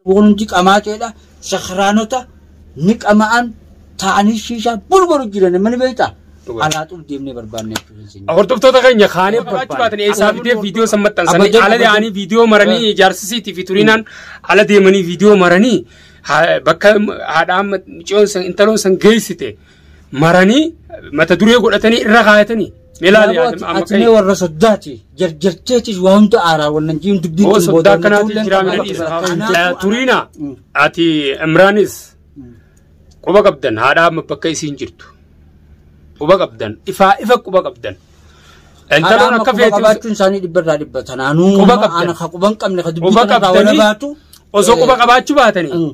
Kun hundi qamaaceedha. Sakraanota ni qama'an taa'anii shiishaa bulbulu jiran mani beektaa? Dhugaa. Alaa xul deemnee barbaannee jechuudha. Hordoftoota keenya kaanee barbaachuu baatan eessaa fidee viidiyoo san maxxansanii Abadee- ala yaa'anii viidiyoo maranii ijaarsisiitii fi turinaan ala deemanii viidiyoo maranii ha- bakka haadhaan miciyoon san intaloon san geessite maranii mata duree godhatanii irra kaayatanii. Ilaali atimee warra soddaati jarjarteetis waa hunda aaraa wannan jiin dubbiin Oo soddaa akkanaatiin jiraa mee dhiisa. Turiina ati Imraanis quba qabdan haadhaa amma bakka isiin jirtu. Quba qabdan ifaa ifa quba qabdan. Intaloon akka feetu qabaachuun isaanii dhibba irraa dhibba tanaanuu Quba qabdan. ana ka quban qabne ka dubbii Quba kanarraa qabdanii wala baatu osoo quba qabaachuu baatanii Mm.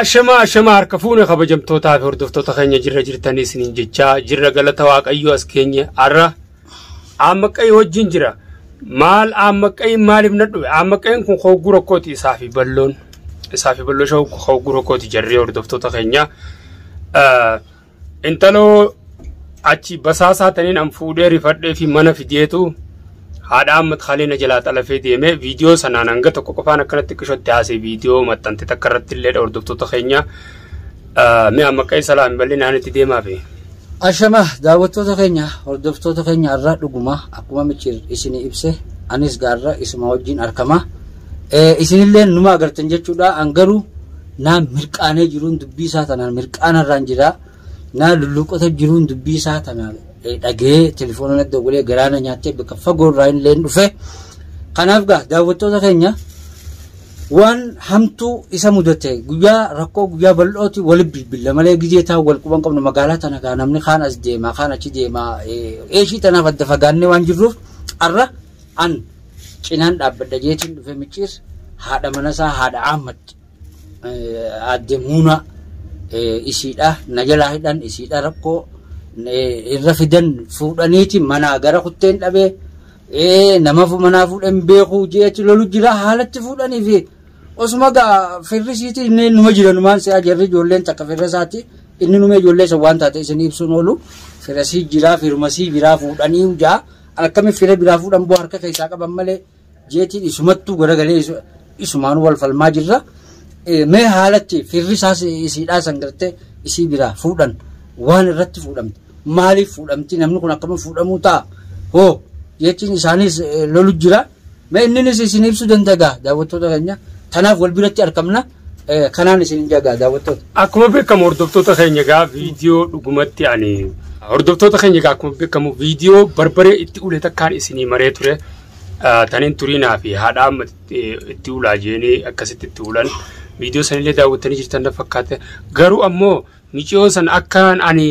Ashamaa ashamaa harka fuune kabajamtootaa fi hordoftoota keenya jirra jirtanii isiniin jechaa jirra galata waaqayyoo as keenye har'a aammaqqayii wajjin jira maal aammaqqayiin maaliif na dhufe aammaqqayiin kun hogguu rakkooti isaa fi balloon isaa fi balloo shawuu hogguu rakkooti jarree hordoftoota keenya Intaloo achi basaasaa taniin an fuudhee rifadhee fi mana fideetu haadha Ahmad Khalil na jalaa xalafee deemee viidiyoo sanaan hanga tokko qofaan akkanatti qishootti haasee viidiyoo maxxante takka irratti illee hordoftoota keenya mi'a maqaa isa laami bal'inaan itti deemaa fi. Ashama daawwattoota keenya hordoftoota keenya har'a dhuguma akkuma michiir isin ibse anis gaarra isuma wajjin argama. Isinillee numa agartan jechuudha an garuu naa mirqaanee jiruun dubbii isaa tanaan mirqaana irraan jira naa lulluuqota jiruun dubbii isaa tana dhagee telefoona na dogolee garaana nyaattee bakka fagoo irraa illee dhufe kanaaf gaa daawwattoota keenya waan hamtuu isa mudate guyyaa rakkoo guyyaa bal'ooti wali bilbila malee gizee taa wal quban qabnu magaalaa tana gaa namni kaan as deema kaan achi deema eeshii tanaaf adda fagaannee waan jirruuf arra an cinaan dhaabbadha jeetiin dhufe micciir haadha manasaa haadha Ahmad aadde Muunaa isiidha na jalaa hidhan isiidha rakkoo irra fidan fuudhaniiti manaa gara kutteen dhabee namafu manaa fuudhan beekuu jeetti lolu jira haalatti fuudhanii fi osuma gaa firrisiiti inni numa jira numaan si'a jarri ijoolleen takka firrasaati inni numa ijoollee san waan taate isin ibsuun oolu firasii jiraa firmasii jiraa fuudhanii hujaa. Akkami fira biraa fuudhan boo harka keessaa qaban malee jeetiin isumattuu garagalee isu- isumaan wal falmaa jirra. Eh, Mee haalatti firri isaas isiidhaa san gartee isii biraa fuudhan waan irratti fuudhamte maaliif fuudhamti namni kun akkama fuudhamuu ta'a hoo jeetiin isaaniis eh, lolu jira. Mee inninis isin ibsuu danda'a daawwattoota keenya. Kanaaf wal biratti argamna. Eh, Kanaan isin jagaa daawwattoota. Akkuma beekamu hordoftoota keenya egaa viidiyoo dhugumatti ani hordoftoota keenya egaa akkuma beekamu viidiyoo barbaree itti ulee takkaan isinii maree ture Ah, taniin turiinaa fi haadha amma itti itti ulaa jeenee akkasitti itti ulan viidiyoo sanillee daawwattanii jirtan na fakkaate garuu ammoo Miciyoo san akkaan ani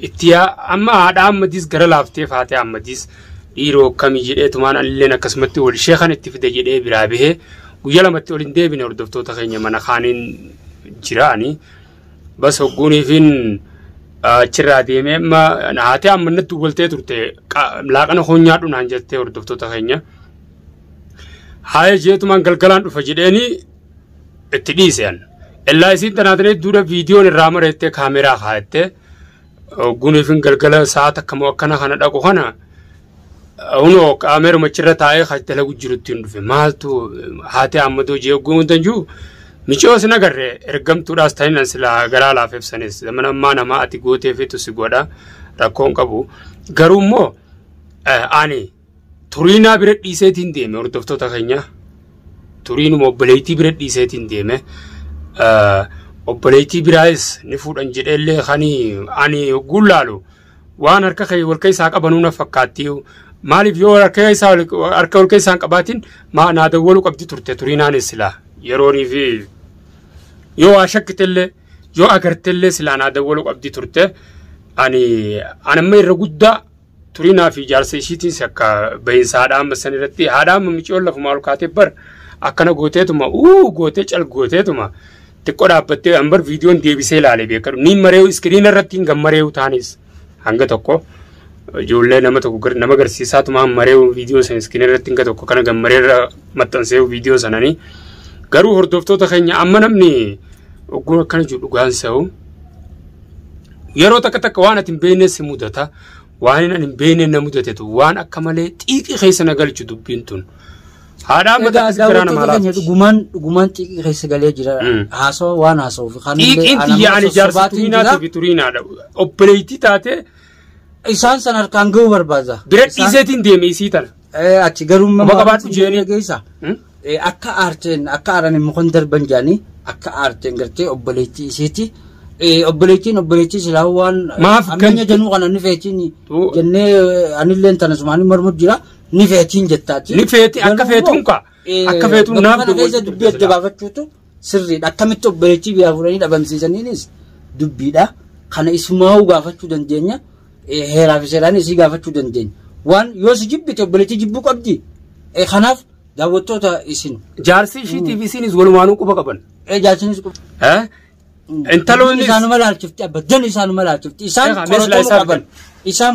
itti yaa amma haadha Ahmadiis gara laaftee faatee Ahmadiis dhiiroo akkamii jedhee tumaan anilleen akkasumatti wal ishee kan itti fide jedhee biraa bahee guyyaa lamatti ol hin deebine hordoftoota keenya mana kaaniin jira ani bas hogguuniifiin achirraa deemee amma haatee amma natti waltee turte qa- laaqana koo nyaadhu naan jettee hordoftoota keenya haaya jeetumaan galgalaan dhufa jedheeni itti dhiise an illaa isiin tanaatan hedduudha viidiyoon irraa mareettee kaameraa kaayattee guuniifin galgala sa'a takka moo akkana kana dhaqu kana hunoo kaameruma achirra taa'ee kan dalagu jirutti hin dhufe maaltu haatee ammadoo jee ogguun hundan jiru micoos hin agarre ergamtuudhaas ta'inan silaa garaa laaf ibsanis mana ammaa namaa ati gootee feetu si godha rakkoon qabu garuu immoo ani turiinaa bira dhiiseetiin deeme hordoftoota keenya turiinuma obboleettii bira dhiiseetiin deeme obboleettii biraayis ni fuudhan jedheellee kan ani ogguun laalu waan harka kee wal keessaa qabanuu na fakkaatti maaliif yoo harka keessaa harka wal keessaa hin qabaatin maa naa dawwaluu qabdi turte turiinaanis silaa yeroonii fi yoo waa shakkitellee yoo agartellee silaa naa dawwaluu qabdi turte ani anamma irra guddaa Turinaa fi jaarsa ishiitiis akka bahinsa haadha amma san irratti haadha amma miciyoon lafumaa ol kaatee bar akkana gooteetuma uu gootee cal gooteetuma xiqqoo dhaabbattee an bar viidiyoon deebisee ilaalee beekadhu ni mareewu iskiriina irratti hin gammareewu taanis hanga tokko ijoollee nama tokko gar- nama garsiisaatuma han mareewu viidiyoo san iskiriina irratti hanga tokko kana gammaree irra maxxanseewu viidiyoo sananii garuu hordoftoota keenya amma namni ogguun akkana jiru dhugaan sa'u Yeroo takka takka waan ati hin beekne si mudata. Waan inni hin beekne na mudatetu waan akka malee xiiqii keessa na galchu dubbiin tun. Haadhaa Egaa mataa garaa daawwattoota namaa keenya laafti. dhugumaan dhugumaan xiiqii keessa galee jira. Mm. Haasawaa waan haasawuuf kan Xiiqiin tiyya ani jaarsa sobaatiin turiinaa jira. ta'e turiinaadha. Obboleettii taatee Isaan san harkaan ga'uu barbaada. bira Isaan- dhiiseetiin deeme isii tana. Eh, Achi garuu Quba qabaadhu jeeni. geessa. Hmm? Akka aarteen akka aaran immoo kan darban jaanii akka aarteen gartee obboleettii isiiti. Obboleettiin obboleettii silaa waan Maaf kan- ammeenya januu kana ni feetiin Tuu- jennee anilleen tana sumaanii mormu jira ni feetiin jettaati. Ni feeti, akka Garuu feetuun kaa. Eh, Akka feetuun bakka naaf kana keessa duwwaa dubbii adda baafachuutu sirriidha. Akkamitti obboleettii biyyaa fuudhanii dhabamsiisaniinis dubbiidha. Kana isumaa'uu gaafachuu dandeenya. Eh, Heeraa fi seeraan isii gaafachuu dandeenya. Waan yoo si jibbite obboleettii jibbuu qabdi. Eh, Kanaaf daawwattoota isin Jaarsi ishiitiif isiinis walumaanuu quba qaban. eh, jaarsinis qu- Eh? Intaloonnis isaanuma laalchifti abba dan isaanuma laalchifti isaan Egaa, meeshaa qoratoon isaan qaban isaan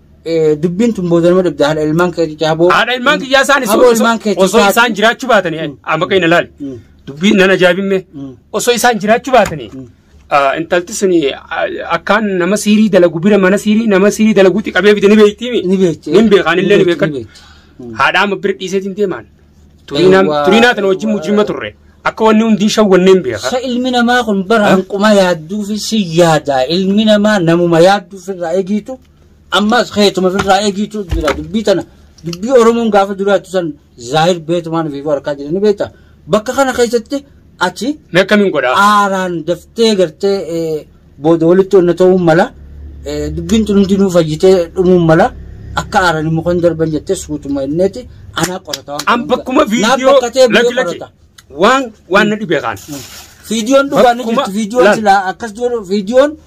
Eh, Dubbiin tun booda nama dhibda haadha ilmaan keetii caaboo. Haadha ilmaan kiyyaa isaan Aboo osoo- ilmaan keetii osoo taate. isaan jiraachuu baatanii amma kan ilaali. Mm. Dubbiin nan ajaa'ibimme Mm. osoo isaan jiraachuu baatanii Mm. ah, intalti suni ah, akkaan nama siirii dalagu bira mana siirii nama siirii dalaguutti qabee fide ni beektiimi. Ni beekti. Ni beekaan illee ni beekan. Haadha amma bira dhiiseetiin deemaan. Turiinaa Eewwaa, turiinaa tana wajjin eewwaa. mujjima turre. Akka wanni hundi hin shawwanneen beeka. Sa ilmi namaa kun bara hanquma yaadduufi si yaada. Ilmi namaa namuma yaadduuf irraa eegiitu. Ammas keetuma ofirraa eegiitu jira dubbii tana. Dubbii Oromoon gaafa duraatti san zaahir beetumaan fi warqaa jedhanii beekta. Bakka kana keessatti ati Mee akkamiin godhaa? aaraan daftee gartee eh, booda walitti onna ta'uun mala eh, dubbiin tun hundinuu fayyitee dhumuun mala akka aaraan immoo kan darban jettee suutuma inneeti anaa qorata waan An bakkuma Naaf viidiyoo bakkatee biyya lakki lakki qorata. waan waan na dhibee kaan. Viidiyoon dhugaa ni Bakkuma- jirti viidiyoon laal. silaa akkas jiru viidiyoon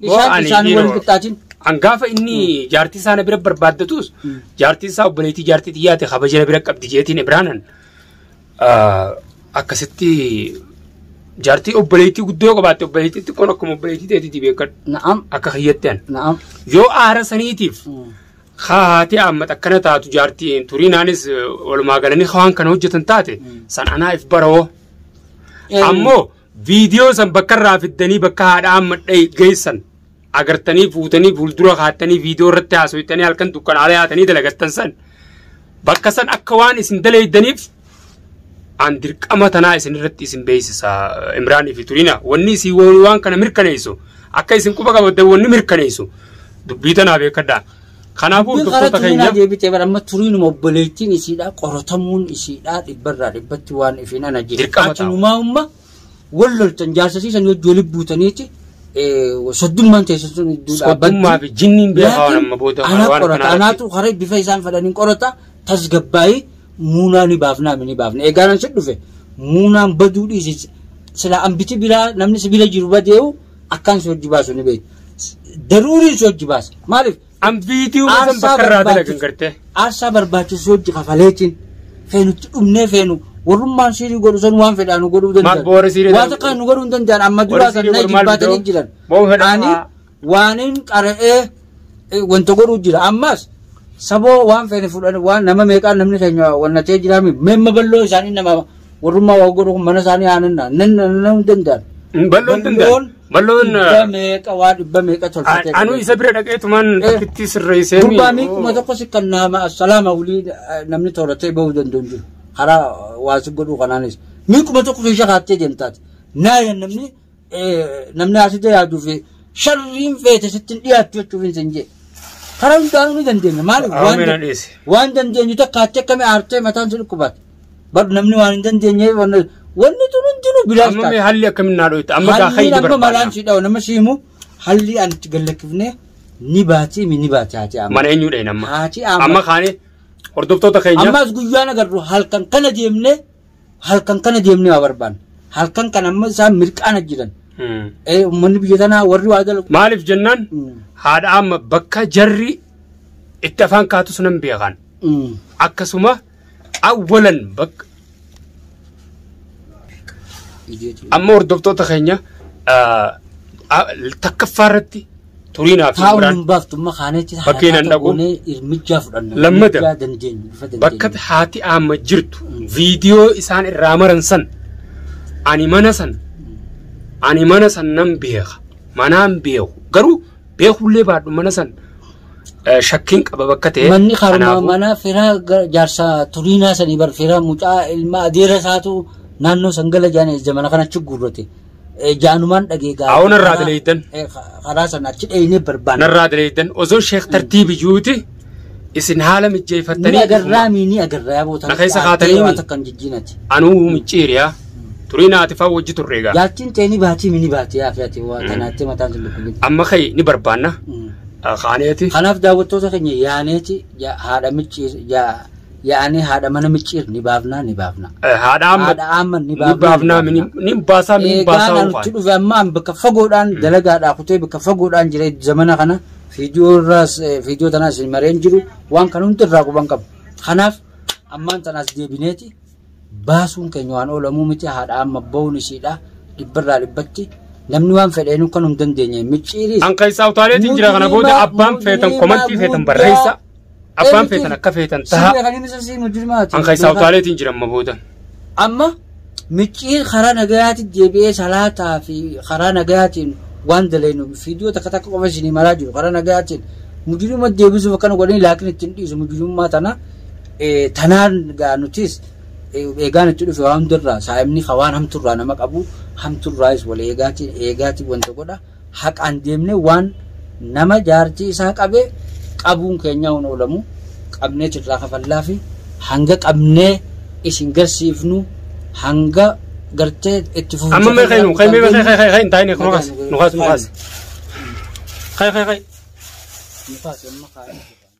Isaan ani isaan dhiiroo. wal qixxaatin. An gaafa inni jaartii isaa na bira barbaaddatus jaartii isaa obboleettii jaartii xiyyaate kabaja na bira qabdi jeetiin Ibraanan ah, akkasitti jaartii obboleettii guddoo qabaatte obboleettii xiqqoon akkuma obboleettii ta'etti beekadhu Na'am. akka kiyyatti an Na'am. yoo aara saniitiif haatee ammata akkana taatu jaartii turiinaanis eh, walumaa galanii waan kana hojjetan taate san anaaf baroo ammoo viidiyoo san bakka irraa fiddanii bakka haadha amma dhahi geessan agartanii fuutanii fuuldura kaattanii viidiyoo irratti haasoftanii halkan dukkanaalee haatanii dalagattan san bakka san akka waan isin dalaydaniif an dirqama tanaa isin irratti isin beeksisa imraanii fi turiina wanni isin waan kana mirkaneessu akka isin quba qabaddan wanni mirkaneessu dubbii tanaa beekadhaa. Kanaafuu Dubbiin hordoftoota karatti keenyaa. deebitee bara amma turiinuma obboleettiin isiidhaa qoratamuun isiidhaa dhibbarraa dhibbatti waan ifiin ana jee. Dirqama ta'a. Atinumaa umma wal loltan jaarsasiisan hojii wali buutaniiti soddummaan teessan sun iddoo Soddummaa fi jinniin beekaa waan amma booda waan anaa qorata kanaa anaatu karaa bifa isaan fedhaniin qorata tasgabbaa'ii muunaa ni baafnaa mi ni baafna eegaanan si dhufe muunaan baduu dhiisi sila ambiti biraa namni si bira jiru badee'u Akkaan si hojji baasu ni beektu. Daruuriin si hojji baasa. Maaliif? An viidiyoo san Aarsaa bakka irraa dalagan barbaachisu- gartee. Aarsaa barbaachisu hojji kafaleetiin feenutti dhumnee feenu warrummaan siirii godhu san waan fedhaa nu godhuu danda'an. Maal boora siirii Waan ta'u- takkaa nu godhuu hin danda'an amma duraa Warri kan siirii na godhu maal jibbaatanii fidoo? jiran. Boo fedhaa Ani haa. waanin qara'ee wanta godhuu jira. Ammas saboo waan feene fudhan waan nama meeqaan namni keenya wannatee jira mi memma balloo isaanii nama warrummaa waa godhu kun mana isaanii aananna nan nan danda'an. Balloon tun Balloon balloon dhibba meeqa waa dhibba meeqa tolfatee. anu isa bira dhaqee tumaan Eh. takkitti sirreessee Gurbaa mi kuma tokko si kan nama assalaama wulii eh, namni tooratee bahuu danda'u hin jiru. Karaa waa si godhuu kanaanis. Mi kuma tokko keessa kaattee deemtaati. Naayan namni namni haasite yaaduu fi sharriin feete sittin dhiyaattu jechuuf hin sin jee. Karaa hundaanuu ni dandeenya. Maaliif waan Ameen dan- adhiise. waan dandeenyu takka atti akkamii aartee mataan si dhukkubaate. Bar namni waan hin dandeenye wanni wanni tun hundinuu bilaash Amma mee haalli akkamiin naa dhoyta? Amma kaa Halliin hayyi amma malaan barbaada. si dhawu nama si himu halli an itti gallakkifne ni baati mi ni baati haati amma. Mana eenyuu dhayin amma? Haati amma. Amma kaane hordoftoota keenya. Ammas guyyaan agarru halkan kana deemne halkan kana deemnee waa barbaanna. Halkan kana amma isaan mirqaana jiran. Mm. Eh, Uummanni biyya tanaa warri waa dalagu. Maaliif jennaan Mm. haadha amma bakka jarri itti afaan kaatus nan beekan. Mm. Akkasuma awwalan bakka Ijeetu. amma hordoftoota keenya ah, ah, takkaffaa irratti turii naaf hin Taa'uun biraan. hin baaftu amma kaanee achi Bakkee nan dhaqu. Irmichaa fudhanna. Lammata. Irmichaa dandeenyu. Bifa dandeenyu. Bakka haati amma jirtu Mm. viidiyoo isaan irraa maran san ani mana san ani mana san nan beeka manaan beeku garuu beekullee baadhu mana san eh, shakkiin qaba bakka ta'e Manni karaa kanaafuu- manaa firaa gara jaarsaa turiinaa sanii bar firaa mucaa ilmaa adeera isaatu naannoo san gala jaanii ija mana kana achi guurrate. Eh, Jaanumaan dhagee gaa'e. Awo narraa dileeydan. Eh, ka- Karaa sana achi dheeynee barbaanna. Narraa dileeydan osoo sheek tartiibi juuti isin haala Ni mijjeeffattanii agarraa mii ni agarraa yaa bootan. Na keessa kaatanii mii? Waan takka hin jijjiinati. anuu micciiriyaa turii naati faa wajji turre egaa Jaartiin ta'e ni baatii mii ni baatii yaa fe'ate waa tanaatti mataan sun dhukkubni. amma ka'e ni barbaanna Mm. kaaneeti Kanaaf daawwattoota keenya yaaneeti ja- haadha micciir ja- yaa'anii haadha mana micciir ni baafnaa ni baafnaa. Haadha amma Haadha amma ni ni baafnaa baafnaa ni baafnaa. ni baasaa ni Eegaan baasaa nutti waan. dhufe amma an bakka fagoodhaan dalagaadhaa kutee bakka fagoodhaan jira zamana kana viidiyoo irraas eh, viidiyoo tanaas hin mareen jiru waan kan hundi irraa quban qabu. Kanaaf ammaan tanaas deebineeti baasuun keenya waan oolamuu miti haadha amma ba'uun ishiidha dhibbarraa dhibbatti namni waan fedheen kan hin dandeenye micciiriis An keessaa utaaleetiin jira kana booda Mujrimaa- abbaan feetan mujrimaa komantii feetan guddaa. barreessa. Abbaan Eenyutu- feetan akka feetan taha. Sirna kan inni sasii mujrimaati. An keessaa utaaleetiin jira amma booda. Amma micciir karaa nagayaatiin deebi'ee salaataa fi karaa nagayaatiin waan daleenu fiidiyoo takka takka qofa isinii maraa jiru karaa nagayaatiin mujrima deebisuuf akkana godhanii laakiin ittiin dhiisu mujrimummaa tana Eh, Tanaan gaa nutis eh, eegaan itti dhufe waa hundarraa saa'imni ka waan hamturraa nama qabu hamturraayis wal eegaati eegaati wanta godha haqaan deemne waan nama jaartii isaa qabe qabuun keenyaa hin oolamu qabneet irraa kafallaa fi hanga qabnee isin garsiifnu hanga gartee itti fufuun amma mee kaynu kay mee kay kay kay kay hin taa'in nu kaas nu kaas nu kaas kay kay kay Nukaas amma kaa'e.